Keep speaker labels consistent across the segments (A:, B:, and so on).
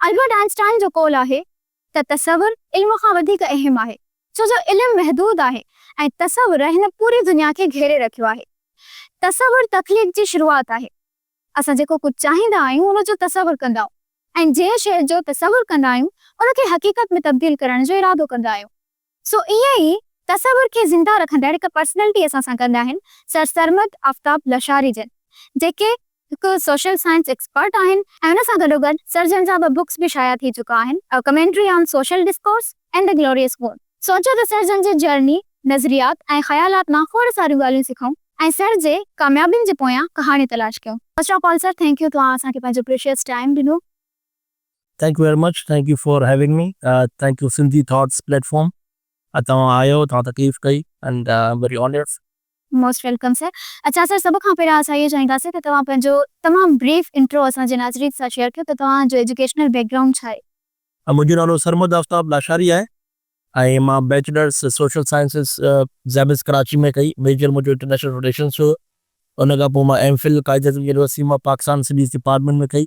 A: Albert Einstein جو قول آهي ته تصور علم کان وڌيڪ اهم آهي، ڇو جو علم محدود آهي ۽ تصور هن پوري دنيا کي گهيري رکيو آهي. تصور تخليق جي شروعات آهي. اسان جيڪو ڪجهه چاهيندا آهيون ان جو تصور ڪندا آهيون ۽ جنهن شيء جو تصور ڪندا آهيون ان کي حقيقت ۾ تبديل ڪرڻ جو ارادو ڪندا آهيون. سو ائين ئي تصور کي زنده رکندڙ هڪ پرسنلٽي اسان سان گڏ آهن سر سرمد آفتاب لشاري جن جيڪي هڪ سوشل سائنس ايڪسپرٽ آهن ۽ ان سان گڏوگڏ سر جن جا ٻه بڪس به شايع ٿي چڪا آهن a commentary on social discourse and a glorious wound. سوچيو ته سر جن جي جرني، نظريات ۽ خيالات مان کوڙ ساريون ڳالهيون سکون ۽ سر جي ڪاميابين جي پويان ڪهاڻي تلاش ڪيون. First of all sir thank you توهان اسان کي پنهنجو پريشيئس ٽائيم ڏنو.
B: Thank you very much Thank you for having me Thank you Sindhi Thoughts Platform اڄ توهان آيو توهان تڪليف ڪئي and I am very honoured. Most welcome
A: sir اڇا سر سڀ کان پهريان اسان اهو چاهينداسين ته توهان پنهنجو تمام بريف انٽرو اسان جي ناظرين سان شيئر ڪيو ته توهان جو ايجوڪيشنل بيڪ گرائونڊ ڇا آهي؟ منهنجو نالو
B: سرمد آفتاب لاشاري آهي ۽ مان بيچلرس سوشل سائنسز زيمس ڪراچي ۾ ڪئي ميجر منهنجو انٽرنيشنل رليشنس هيو ان کان پوء مان M Phil Quaid Azam university مان پاڪستان اسٽڊيز ڊپارٽمينٽ ۾ ڪئي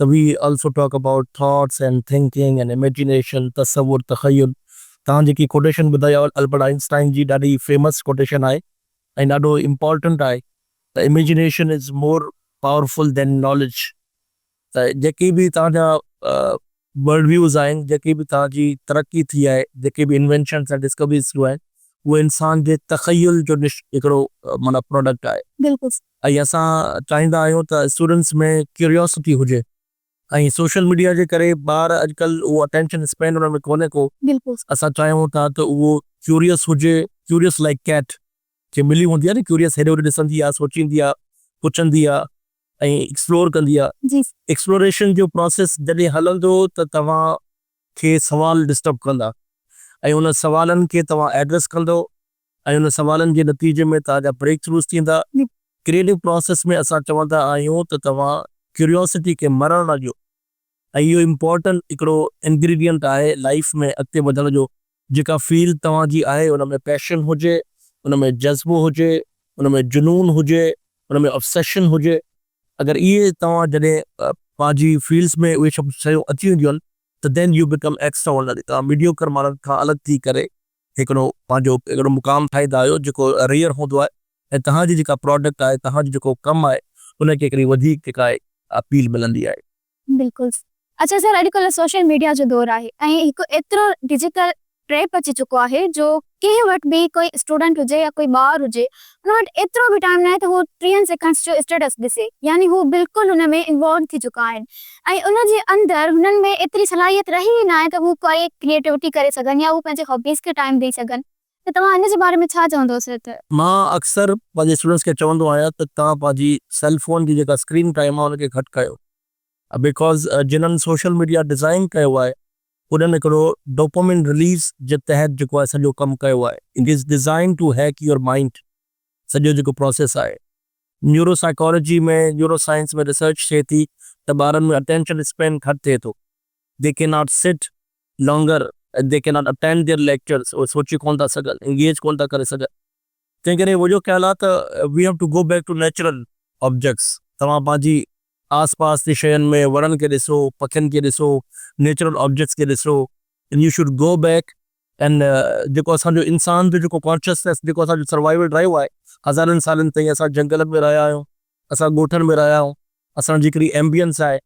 B: ته we also talk about thoughts and thinking and imagination, تصور، تخيل. توهان جيڪي ڪوٽيشن ٻڌائي آهي البرٽ آئن اسٽائن جي ڏاڍي فيمس ڪوٽيشن آهي ۽ ڏاڍو امپارٽنٽ آهي ته imagination is more powerful than knowledge ته جيڪي به توهان جا ورلڊ ويوز آهن جيڪي به توهان جي ترقي ٿي آهي جيڪي به انوينشنس ۽ ڊسڪوريز ٿيون آهن اهي انسان جي تخيل جو هڪڙو معنيٰ پراڊڪٽ آهي. بلڪل صحيح ۽ اسان چاهيندا آهيون ته اسٽوڊنٽس ۾ ڪيوريوسٽي هجي ۽ سوشل ميڊيا جي ڪري ٻار اڄڪلهه اهو اٽينشن اسپين انهن ۾ ڪونهي ڪو اسان چاهيون
A: ٿا
B: ته اهو ڪيوريوس هجي ڪيوريوس لائيڪ ڪيٽ جي ملي هوندي آهي نه ڪيوريوس هيڏي هوڏي ڏسندي آهي سوچيندي آهي پڇندي آهي ۽ ايڪسپلور ڪندي آهي ايڪسپلوريشن
A: جو
B: پراسيس جڏهن هلندو ته توهان کي سوال ڊسٽرب ڪندا ۽ انهن سوالن کي توهان ايڊريس ڪندو ۽ ان سوالن جي نتيجي ۾ توهان جا بريڪ ٿروز ٿيندا. ڪريئيٽو پراسيس ۾ اسان چوندا آهيون ته توهان ڪيوريوسٽي کي مرڻ نه ڏيو ۽ اهو امپورٽنٽ هڪڙو انگريڊينٽ آهي لائيف ۾ اڳتي وڌڻ جو جيڪا فيلڊ توهان جي آهي ان ۾ پيشن هجي ان ۾ جذبو هجي ان ۾ جنون هجي ان ۾ اوبسيشن هجي اگر اهي توهان جڏهن پنهنجي فيلڊس ۾ اهي سڀ شيون اچي وينديون آهن ته then you become extraordinary توهان ميڊيوڪر ماڻهن کان الڳ ٿي ڪري هڪڙو پنهنجو اهڙو مقام ٺاهيندا آهيو جيڪو ريئر هوندو آهي ۽ توهان جي جيڪا پراڊڪٽ آهي توهان جو جيڪو ڪم آهي ان کي هڪڙي وڌيڪ جيڪا آهي اپيل ملندي آهي. بلڪل سر اڇا
A: سر اڄ ڪلهه سوشل ميڊيا جو دور آهي ۽ هڪ ايترو ڊجيٽل ٽريپ اچي چڪو آهي جو ڪنهن وٽ به ڪوئي اسٽوڊنٽ هجي يا ڪوئي ٻار هجي هن وٽ ايترو به ٽائيم ناهي ته هو ٽيهن سيڪنڊس جو اسٽيٽس ڏسي يعني هو بلڪل ان ۾ انوالوڊ ٿي چڪا آهن ۽ ان جي اندر هنن ۾ ايتري صلاحيت رهي ئي ناهي ته هو ڪائي ڪريئيٽوٽي ڪري سگهن يا هو پنهنجي هابيز کي ٽائيم ڏئي سگهن ته توهان ان جي باري ۾ ڇا چوندو سر ته. مان اڪثر
B: پنهنجي اسٽوڊنٽس کي چوندو آهيان ته توهان پنهنجي سيل فون جي جيڪا اسڪرين ٽائيم آهي ان کي گهٽ ڪيو بيڪاز جنن سوشل ميڊيا ڊزائين ڪيو آهي انهن هڪڙو ڊوپامين رليز جي تحت جيڪو آهي سڄو ڪم ڪيو آهي it is designed to hack your mind سڄو جيڪو پروسيس آهي neuropsychology ۾ neuroscience ۾ research ٿئي ٿي ته ٻارن ۾ اٽينشن اسپين گهٽ ٿئي ٿو they can not sit longer they can not attend their lectures اهي سوچي ڪونه ٿا سگهن انگيج ڪونه ٿا ڪري سگهن. تنهنڪري منهنجو خيال آهي ته we have to go back to natural objects توهان پنهنجي آس پاس جي شين ۾ وڻن کي ڏسو پکين کي ڏسو نيچرل آبجيڪٽس کي ڏسو and you should go back and جيڪو اسان جو انسان جو جيڪو ڪانشسنيس جيڪو اسان جو سروائيول رهيو آهي هزارن سالن تائين اسان جهنگلن ۾ رهيا آهيون اسان ڳوٺن ۾ رهيا آهيون اسان جي هڪڙي ايمبيئنس آهي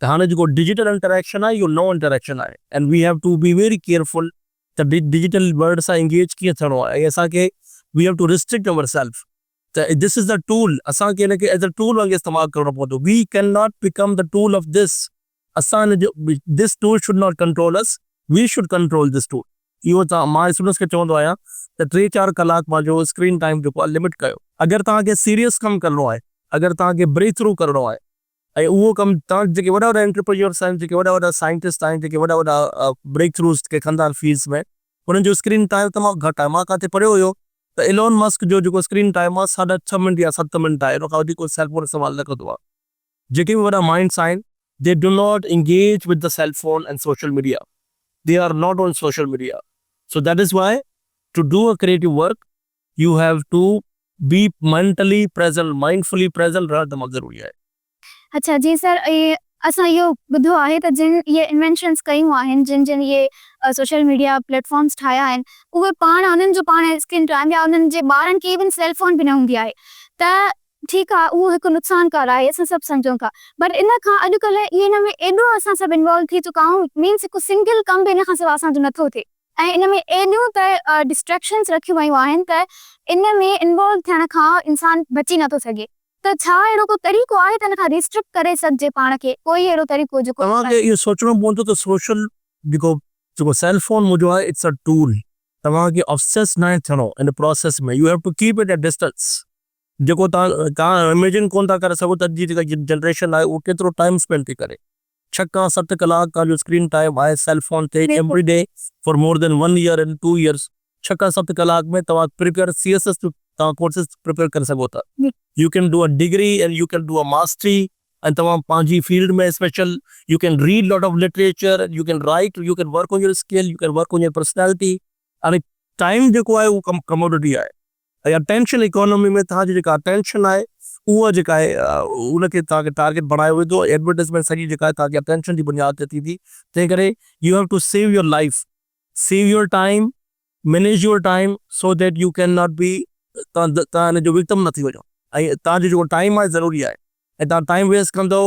B: ته هاڻي جيڪو ڊجيٽل انٽريڪشن آهي اهو نئون انٽريڪشن آهي and we have to be very careful ته ڊجيٽل ورلڊ سان انگيج ڪيئن ٿيڻو آهي ۽ اسان کي we have to restrict our self ته ڌس از ا ٽول اسان کي ان کي ايز ا ٽول وانگي استعمال ڪرڻو پوندو we can not become the tool of this اسان ان جو this tool should not control us we should control this tool اهو ته مان اسٽوڊنٽس کي چوندو آهيان ته ٽي چار ڪلاڪ پنهنجو اسڪرين ٽائيم جيڪو آهي لمٽ ڪيو اگر توهان کي سيريس ڪم ڪرڻو آهي اگر توهان کي بريڪ ٿرو ڪرڻو آهي. ۽ اهو ڪم تان جيڪي وڏا وڏا انٽرپرينيورس آهن، جيڪي وڏا وڏا سائنٽسٽ آهن، جيڪي وڏا وڏا بريڪ ٿروز ڪي ڪندا آهن فيلڊس ۾، انهن جو اسڪرين ٽائيم تمام گهٽ آهي. مان ڪاتي پڙهيو هيو ته ايلون مسڪ جو جيڪو اسڪرين ٽائيم آهي ساڍا ڇهه منٽ يا ست منٽ آهي، ان کان وڌيڪ هو سيل فون استعمال نه ڪندو آهي. جيڪي به وڏا مائنڊس آهن They do not engage with the cell phone and social media. They are not on social media. So that is why to do a creative work you have to be mentally present mindfully present رهڻ تمام ضروري آهي. اڇا جي
A: سر اسان اهو ٻڌو آهي ته جن اهي انوينشنس ڪيون آهن جن جن اهي سوشل ميڊيا پليٽ فارمس ٺاهيا آهن اهي پاڻ انهن جو پاڻ اسڪرين ٽائيم يا انهن جي ٻارن کي ايون سيل فون به نه هوندي آهي ته ٺيڪ آهي اهو هڪ نقصان ڪار آهي اسان سڀ سمجهون ٿا بٽ ان کان اڄ ڪلهه ان ۾ ايڏو اسان سڀ انوالو ٿي چڪا آهيون مينس هڪ سنگل ڪم به ان کان سواء اسان جو نه ٿو ٿئي. ۽ ان ۾ ايڏيون ته ڊسٽريڪشنس رکيون ويون آهن ته ان ۾ انوالو ٿيڻ کان انسان بچي نٿو سگهي ته ڇا اهڙو ڪو طريقو آهي ته ان کان ريسٽرڪٽ ڪري سگهجي پاڻ کي ڪوئي اهڙو طريقو جيڪو. توهان کي اهو سوچڻو
B: پوندو ته سوشل جيڪو جيڪو سيل فون موجود آهي اٽس ا ٽول توهان کي اوبسيسڊ ناهي ٿيڻو ان process ۾ you have to keep it a distance جيڪو توهان ايميجن ڪونه ٿا ڪري سگهو ته اڄ جي جيڪا جنريشن آهي اهو ڪيترو ٽائيم اسپينڊ ٿي ڪري. ڇهه کان ست ڪلاڪ توهان جو اسڪرين ٽائيم آهي سيل فون تي every day for more than one year in two years ڇهه کان ست ڪلاڪ ۾ توهان پريپيئر سي ايس ايس جو توهان ڪورسز پريپيئر ڪري سگهو ٿا you can do a degree and you can do a mastery ۽ توهان پنهنجي field ۾ special you can read lot of literature and you can write you can work on your skill U can work on your personality time جيڪو آهي اهو commodity آهي اها tension economy ۾ توهان جي جيڪا اٽينشن آهي اها جيڪا آهي ان کي توهان کي ٽارگيٽ بڻايو ويندو ۽ ايڊورٽائزمينٽ سڄي جيڪا آهي توهان جي اٽينشن جي بنياد تي ٿيندي تنهن ڪري you have to save your life save your time manage your time so that you can not be توهان توهان ان جو وڪٽم نه ٿي وڃو ۽ توهان جو جيڪو ٽائيم آهي ضروري آهي ۽ توهان ٽائيم ويسٽ ڪندو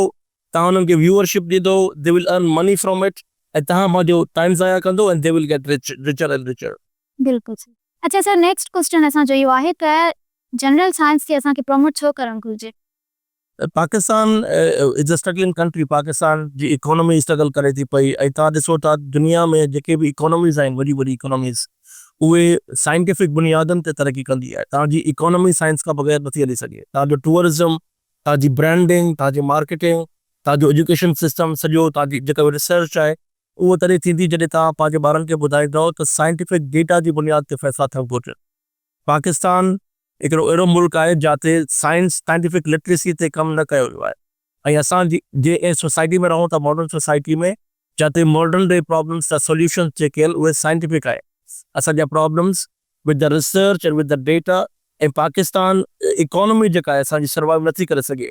B: توهان انهن کي ويوئرشپ ڏيندو they will earn money from it ۽ توهان پنهنجو ٽائيم ضايع ڪندو ۽ they will get rich richer and richer. بلڪل
A: صحيح اچا سر نيڪسٽ ڪوسٽن اسان جو اهو آهي ته جنرل سائنس کي اسان کي پروموٽ ڇو ڪرڻ گهرجي. Pakistan
B: is a struggling country Pakistan جي اڪانومي سٽرگل ڪري ٿي پئي ۽ توهان ڏسو ٿا دنيا ۾ جيڪي به اڪانوميز آهن وڏي وڏي اڪانوميز اهي سائنٽيفڪ بنيادن تي ترقي ڪندي آهي توهان جي اڪانومي سائنس کان بغير نٿي هلي سگهي توهان جو ٽوئرزم توهان جي برانڊنگ توهان جي مارڪيٽنگ توهان جو ايجوڪيشن سسٽم سڄو توهان جي جيڪا به ريسرچ آهي اهو تڏهن ٿيندي جڏهن توهان پنهنجي ٻارن کي ٻڌائيندؤ ته سائنٽيفڪ ڊيٽا جي بنياد تي فيصلا ٿيڻ گهرجن. پاڪستان هڪڙو اهڙو ملڪ آهي جاتي سائنس سائنٽيفڪ لٽريسي تي ڪم نه ڪيو ويو آهي ۽ اسان جي جي اهڙي سوسائٽي ۾ رهون ٿا ماڊرن سوسائٽي ۾ جاتي ماڊرن ڊي پرابلمس جا سوليوشنس جيڪي آهن اهي سائنٽيفڪ آهن اسان جا problems with the research and with the data ۽ Pakistan economy جيڪا آهي اسان جي سروائيو نٿي ڪري سگهي.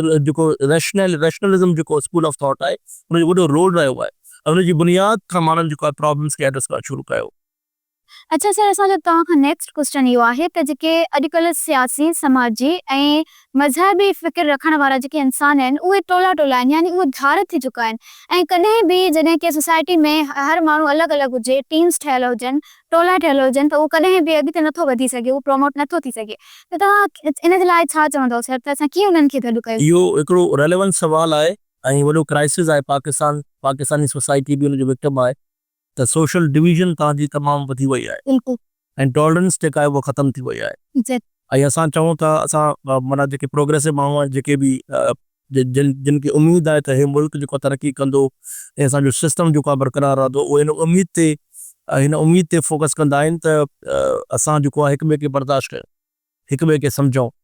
B: جيڪو ريشنل ريشنلزم جيڪو اسڪول آف ٿاٽ آهي ان جو وڏو رول رهيو آهي ۽ ان جي بنياد کان ماڻهن جيڪو آهي پرابلمز کي ايڊريس ڪرڻ شروع ڪيو. اڇا
A: سر اسان جو توهان کان نيڪسٽ ڪوسٽن اهو آهي ته جيڪي اڄڪلهه سياسي سماجي ۽ مذهبي فڪر رکڻ وارا جيڪي انسان آهن اهي ٽولا ٽولا آهن يعني اهي ڌار ٿي چڪا آهن ۽ ڪڏهن به جڏهن ڪنهن سوسائٽي ۾ هر ماڻهو الڳ الڳ هجي ٽيمز ٺهيل هجن ٽولا ٺهيل هجن ته اهو ڪڏهن به اڳتي نٿو وڌي سگهي، اهو پروموٽ نٿو ٿي سگهي ته توهان ان جي لاء ڇا چوندؤ سر ته اسان ڪيئن انهن کي گڏ ڪيون. اهو هڪڙو ريليونٽ
B: سوال آهي ۽ وڏو ڪرائسز آهي پاڪستان پاڪستاني سوسائٽي به ان جو وڪٽم آهي ته سوشل ڊويزن تان جي تمام وڌي وئي آهي بلڪل. ۽ ٽالرنس جيڪا آهي اها ختم ٿي وئي آهي ايگزيڪٽلي. ۽ اسان چئون ٿا اسان معنيٰ جيڪي پروگريسو ماڻهو آهن جيڪي به جن جن کي اميد آهي ته هي ملڪ جيڪو آهي ترقي ڪندو ۽ اسان جو سسٽم جيڪو آهي برقرار رهندو اهي هن اميد تي هن اميد تي فوڪس ڪندا آهن ته اسان جيڪو آهي هڪ ٻئي کي برداشت ڪيون هڪ ٻئي کي سمجهون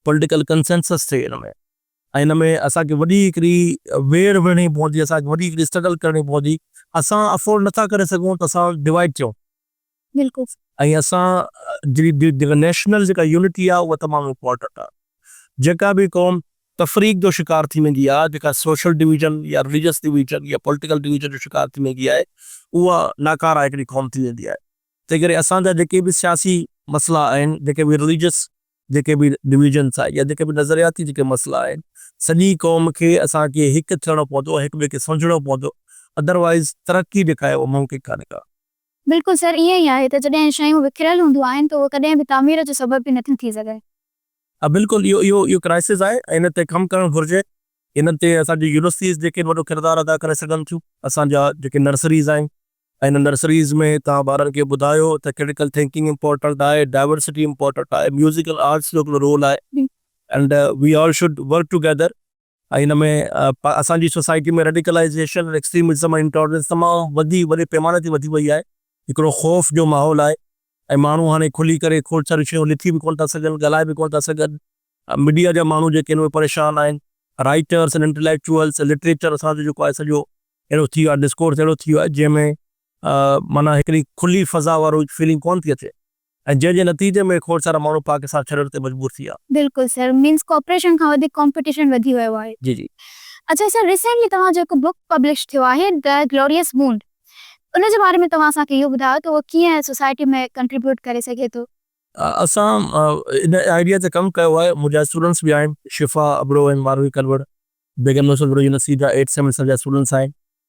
B: پولٽيڪل ڪنسينسس ٿئي هن ۾ ۽ هن ۾ اسان کي وڏي هڪڙي ويڙهه وڙهڻي پوندي اسان کي وڏي هڪڙي اسٽرگل ڪرڻي پوندي اسان افورڊ نٿا ڪري سگهون ته اسان ڊوائيڊ ٿيون
A: بالڪل. ۽ اسان
B: جي جيڪا نيشنل جيڪا يونٽي آ اها تمام امپورٽنٽ آ جيڪا به قوم تفريق جو شڪار ٿي ويندي آ جيڪا سوشل ڊويزن يا رليجس ڊويزن يا پوليٽيڪل ڊويزن جو شڪار ٿي ويندي آهي اها ناڪاره هڪڙي قوم ٿي ويندي آهي تنهن ڪري اسان جا جيڪي به سياسي مسئلا آهن جيڪي به رليجس جيڪي به ڊويزنس آهن يا جيڪي به نظرياتي جيڪي مسئلا آهن سڄي قوم کي اسان کي هڪ ٿيڻو پوندو هڪ ٻئي کي سمجهڻو پوندو ادروائز ترقي جيڪا آهي اها ممڪن ڪانهي ڪا. بلڪل سر
A: ائين ئي آهي ته جڏهن شيون وکريل هونديون آهن ته اهو ڪڏهن به تعمير جو سبب به نٿيون ٿي
B: سگهن.
A: ها
B: بلڪل اهو
A: اهو
B: اهو ڪرائسز
A: آهي ۽
B: ان تي
A: ڪم
B: ڪرڻ گهرجي. انهن تي اسان جون يونيورسٽيز جيڪي آهن وڏو ڪردار ادا ڪري سگهن ٿيون. اسان جا جيڪي نرسريز آهن ۽ انهن نرسريز ۾ توهان ٻارن کي ٻڌايو ته ڪرٽيڪل ٿنڪنگ امپورٽنٽ آهي، ڊائيورسٽي امپورٽنٽ آهي، ميوزڪل آرٽس جو هڪڙو رول آهي. And we all should work together. ۽ ان ۾ اسان جي سوسائٽي ۾ ريڊيڪلائيزيشن ۽ ايڪسٽريمزم ۽ انٽالرنس تمام وڌي وڏي پيماني تي وڌي وئي آهي. هڪڙو خوف جو ماحول آهي ۽ ماڻهو هاڻي کلي ڪري کوڙ ساريون شيون لکي به ڪونه ٿا سگهن، ڳالهائي به ڪونه ٿا سگهن. ميڊيا جا ماڻهو جيڪي آهن اهي پريشان آهن. رائيٽرس ۽ انٽليڪچوئلس، لٽريچر اسان جو جيڪو آهي سڄو اهڙو ٿي ويو آهي، ڊسڪورس اهڙو ٿي ويو آهي جنهن ۾ معنيٰ هڪڙي کلي فضا وارو فيلنگ ڪونه ٿي اچي. ۽ جنهن جي نتيجي ۾ کوڙ سارا ماڻهو پاڪستان ڇڏڻ تي مجبور ٿي ويا. بلڪل سر مينس
A: ڪوپريشن کان وڌيڪ ڪمپٽيشن وڌي ويو آهي. جي جي.
B: اڇا سر ريسينٽلي
A: توهان جو هڪ بوڪ پبلش ٿيو آهي The Glorious Wound ان جي باري ۾ توهان اسان کي اهو ٻڌايو ته اهو ڪيئن سوسائٽي ۾ ڪنٽريبيوٽ ڪري سگهي ٿو. اسان
B: ان آئيڊيا تي ڪم ڪيو آهي منهنجا اسٽوڊنٽس به آهن شفا ابڙو ۽ ماروي ڪلوڙ، بيگم نوشل ابڙو جون سيدا ايٽ سيمسٽر جا اسٽوڊنٽس آهن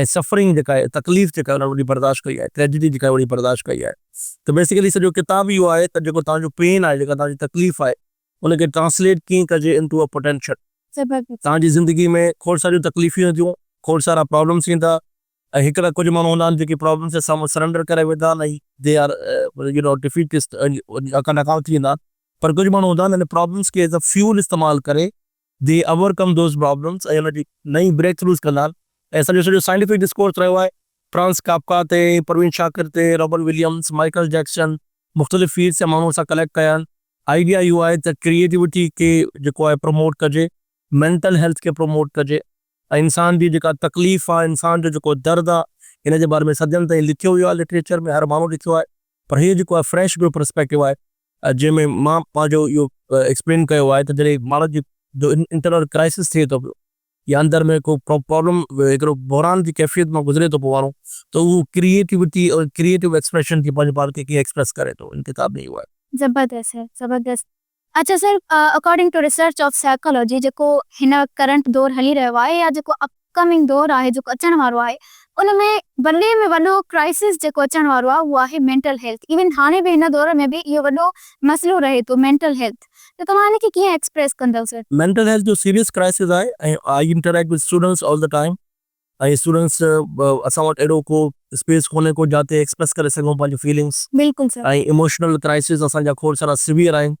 B: ۽ سفرنگ جيڪا آهي تڪليف جيڪا انهن وڏي برداشت ڪئي آهي ٽريجڊي جيڪا وڏي برداشت ڪئي آهي ته بيسيڪلي سڄو ڪتاب اهو آهي ته جيڪو توهان جو پين آهي جيڪا توهان جي تڪليف آهي ان کي ٽرانسليٽ ڪيئن ڪجي انٽو ا پوٽينشل توهان جي
A: زندگي ۾
B: کوڙ ساريون تڪليفون اينديون کوڙ سارا پرابلمس ايندا ۽ هڪڙا ڪجهه ماڻهو هوندا آهن جيڪي پرابلمس جي سامهون سرينڊر ڪري ويندا آهن ۽ they are you know defeatist ۽ ناڪام ٿي ويندا آهن پر ڪجهه ماڻهو هوندا آهن ان پرابلمس کي ايز ا فيول استعمال ڪري دي اوور ڪم دوز پرابلمز ۽ ان جي نئين بريڪ ٿروز ڪندا آهن ۽ سڄو سڄو سائنٽيفڪ ڊسڪورس رهيو آهي فرانز ڪافڪا تي، پروين شاڪر تي، رابن وليمز، مائيڪل جيڪسن مختلف فيلڊز جا ماڻهو اسان ڪليڪٽ ڪيا آهن. آئيڊيا اهو آهي ته ڪريئيٽوٽي کي جيڪو آهي پروموٽ ڪجي، مينٽل هيلٿ کي پروموٽ ڪجي ۽ انسان جي جيڪا تڪليف آهي، انسان جو جيڪو درد آهي ان جي باري ۾ صدين تائين لکيو ويو آهي لٽريچر ۾ هر ماڻهو لکيو آهي پر هي جيڪو آهي فريش ٻيو پرسپيڪٽو آهي جنهن ۾ مان پنهنجو اهو ايڪسپلين ڪيو آهي ته جڏهن ماڻهو جي جو انٽرنل ڪرائسس ٿئي ٿو پيو يا اندر ۾ ڪو پرابلم هڪڙو بحران جي ڪيفيت مان گذري ٿو پيو ماڻهو ته اهو ڪريئيٽوٽي ۽ ڪريئيٽو ايڪسپريشن جي پنهنجي پاڻ کي ڪيئن ايڪسپريس ڪري ٿو ان ڪتاب ۾ اهو آهي. زبردست سر زبردست
A: اچا sir according to research of psychology جيڪو هن وقت ڪرنٽ دور هلي رهيو آهي يا جيڪو اپ. ڪمنگ دور آهي جيڪو اچڻ وارو آهي ان ۾ وڏي ۾ وڏو ڪرائسس جيڪو اچڻ وارو آهي اهو آهي مينٽل هيلٿ ايون هاڻي به هن دور ۾ به اهو وڏو مسئلو رهي ٿو مينٽل هيلٿ ته توهان ان کي ڪيئن ايڪسپريس ڪندؤ سر. مينٽل هيلٿ جو سيريس
B: ڪرائسس آهي ۽ I interact with students all the time ۽ students اسان وٽ اهڙو ڪو اسپيس ڪونهي ڪو جاتي ايڪسپريس ڪري سگهون پنهنجون فيلنگس بلڪل سر. ۽
A: ايموشنل ڪرائسس
B: اسان جا کوڙ سارا سويئر آهن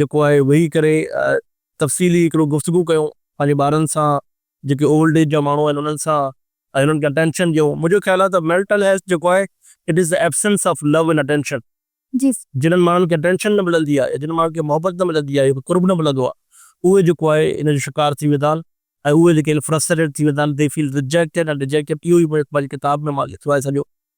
B: جيڪو آهي ويهي ڪري تفصيلي هڪڙو گفتگو ڪيون پنهنجي ٻارن سان جيڪي اولڊ ايج جا ماڻهو آهن انهن سان ۽ انهن کي اٽينشن ڏيون منهنجو خيال آهي ته ميلٽل هيلٿ جيڪو آهي it is the absence of love and attention جنهن
A: ماڻهن کي اٽينشن
B: نه ملندي آهي جنهن ماڻهن کي محبت نه ملندي آهي قرب نه ملندو آهي اهي جيڪو آهي ان جو شڪار ٿي ويندا آهن ۽ اهي جيڪي آهن فرسٽريٽيڊ ٿي ويندا آهن they feel rejected and dejected اهو ئي مون هڪ پنهنجي ڪتاب ۾ مان لکيو آهي سڄو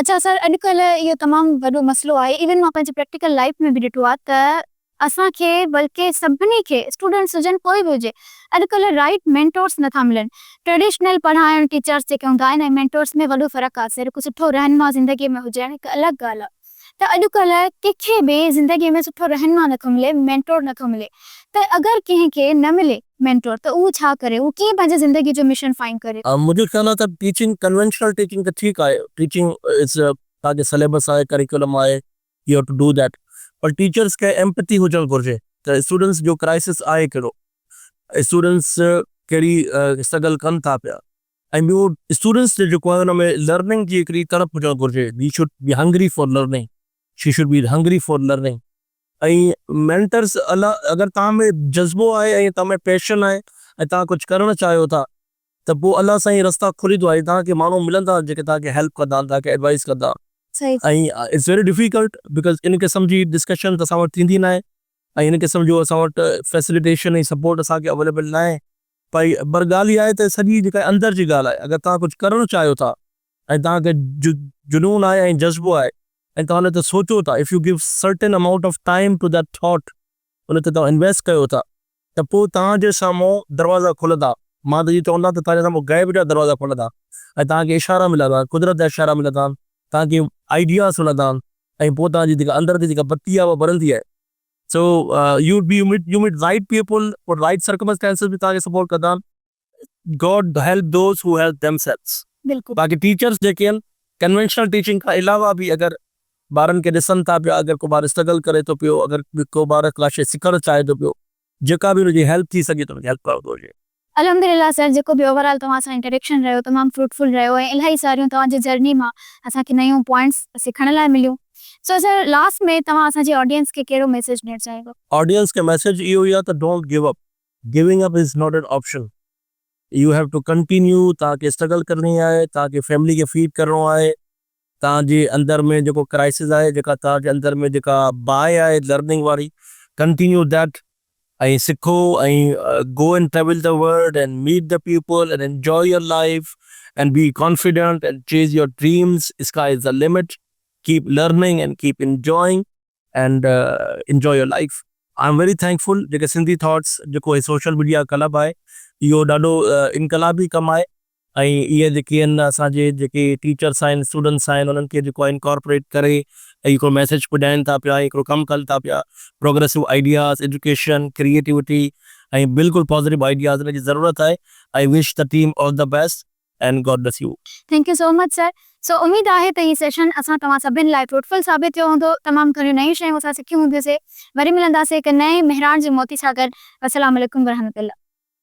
B: اچا
A: سر اڄ ڪلهه اهو تمام وڏو مسئلو آهي ايون مان پنهنجي پريڪٽيڪل لائيف ۾ به ڏٺو آهي ته اسان کي بلڪه سڀني کي اسٽوڊنٽس هجن ڪوئي به هجي اڄ ڪلهه رائيٽ مينٽورس نٿا ملن ٽريڊيشنل پڙهائڻ ٽيچرس جيڪي هوندا آهن ۽ مينٽورس ۾ وڏو فرق آهي سر هڪ سٺو رهنما زندگي ۾ هجڻ هڪ الڳ ڳالهه آهي. ته اڄڪلهه ڪنهن کي به زندگيء ۾ سٺو رهنما نه ٿو ملي، مينٽور نه ٿو ملي ته اگر ڪنهن کي نه ملي مينٽور ته اهو ڇا ڪري، اهو ڪيئن پنهنجي زندگيء جو مشن فائنڊ ڪري. منهنجو خيال آهي ته
B: ٽيچنگ ڪنوينشنل ٽيچنگ ته ٺيڪ آهي، ٽيچنگ از تانکي سليبس آهي، ڪريڪولم آهي، you have to do that پر ٽيچرس کي ايمپٿي هجڻ گهرجي ته اسٽوڊنٽس جو ڪرائسس آهي ڪهڙو، اسٽوڊنٽس ڪهڙي اسٽرگل ڪن ٿا پيا. ۽ ٻيو اسٽوڊنٽس جو جيڪو آهي ان ۾ لرننگ جي هڪڙي تڙپ هجڻ گهرجي He should be hungry for learning She should be hungry for learning ۽ مينٽرس اگر توهان ۾ جذبو آهي ۽ توهان ۾ پيشن آهي ۽ توهان ڪجهه ڪرڻ چاهيو ٿا ته پوء الله سائين رستا کوليندو آهي توهان کي ماڻهو ملندا جيڪي توهان کي هيلپ ڪندا توهان کي ايڊوائيز ڪندا ۽ It's
A: very
B: difficult بڪاز ان قسم جي ڊسڪشنز اسان وٽ ٿيندي ناهي ۽ ان قسم جو اسان وٽ فيسليٽيشن ۽ سپورٽ اسان کي اويليبل ناهي پئي پر ڳالهه اها آهي ته سڄي جيڪا اندر جي ڳالهه آهي اگر توهان ڪجهه ڪرڻ چاهيو ٿا ۽ توهان کي جنون آهي ۽ جذبو آهي ۽ توهان ان تي سوچو ٿا if you give certain amount of time to that thought ان تي توهان انويسٽ ڪيو ٿا ته پوء توهان جي سامهون دروازا کلندا مان ته اهو چوندان ته توهان جي سامهون غيب جا دروازا کلندا ۽ توهان کي اشارا ملندان قدرت جا اشارا ملندان توهان کي آئيڊياز ملندان ۽ پوء توهان جي جيڪا اندر جي جيڪا بتي آهي اها ٻرندي ۽ so you would be you meet you meet right people اور رائيٽ سرڪمسٽينسز به توهان کي سپورٽ ڪندا. God help those who help themselves. بلڪل. باقي ٽيچرز
A: جيڪي آهن
B: ڪنوينشنل ٽيچنگ کان علاوه به اگر ٻارن کي ڏسن ٿا پيا اگر ڪو ٻار اسٽرگل ڪري ٿو پيو اگر ڪو ٻار ڪا شي سکڻ چاهي ٿو پيو جيڪا به هن جي هيلپ ٿي سگهي ته ان کي هيلپ ڪرڻو گهرجي. الحمدلله سر
A: جيڪو به اوور آل توهان سان انٽريڪشن رهيو تمام فروٽفل رهيو ۽ الاهي ساريون توهان جي جرني مان اسان کي نيون پوائنٽس سکڻ لاء مليون سو سر لاسٽ ۾ توهان اسان جي آڊينس کي ڪهڙو ميسيج ڏيڻ چاهيندو. آڊينس کي ميسيج
B: اهو ئي آهي ته don't give up. Giving up is not an option you have to continue توهان کي اسٽرگل ڪرڻي آهي توهان کي فيملي کي فيڊ ڪرڻو آهي توهان جي اندر ۾ جيڪو ڪرائسز آهي، جيڪا توهان جي اندر ۾ جيڪا باهه آهي لرننگ واري ڪنٽينيو ڌيٽ ۽ سکو ۽ go and travel the world and meet the people and enjoy your life and be confident and chase your dreams sky is the limit keep learning and keep enjoying and enjoy your life. I am very thankful جيڪي Sindhi thoughts جيڪو هي social media club آهي اهو ڏاڍو انقلابي ڪم آهي. ۽ اهي جيڪي آهن اسان جي جيڪي ٽيچرس آهن اسٽوڊنٽس آهن انهن کي جيڪو آهي انڪارپوريٽ ڪري ۽ هڪڙو ميسيج پڄائين ٿا پيا ۽ هڪڙو ڪم ڪن ٿا پيا پروگريسو آئيڊياز ايجوڪيشن ڪريئيٽوٽي ۽ بلڪل پازيٽو آئيڊياز ان جي ضرورت آهي I wish the team all the best and God bless you. Thank you so much sir.
A: سو اميد آهي ته هي سيشن اسان توهان سڀني لاء فروٽفل ثابت ٿيو هوندو تمام گهڻيون نيون شيون اسان سکيون هونديون سي وري ملنداسي هڪ نئين مهراڻ جي موتي سان گڏ وسلام عليڪم ورحمة الله.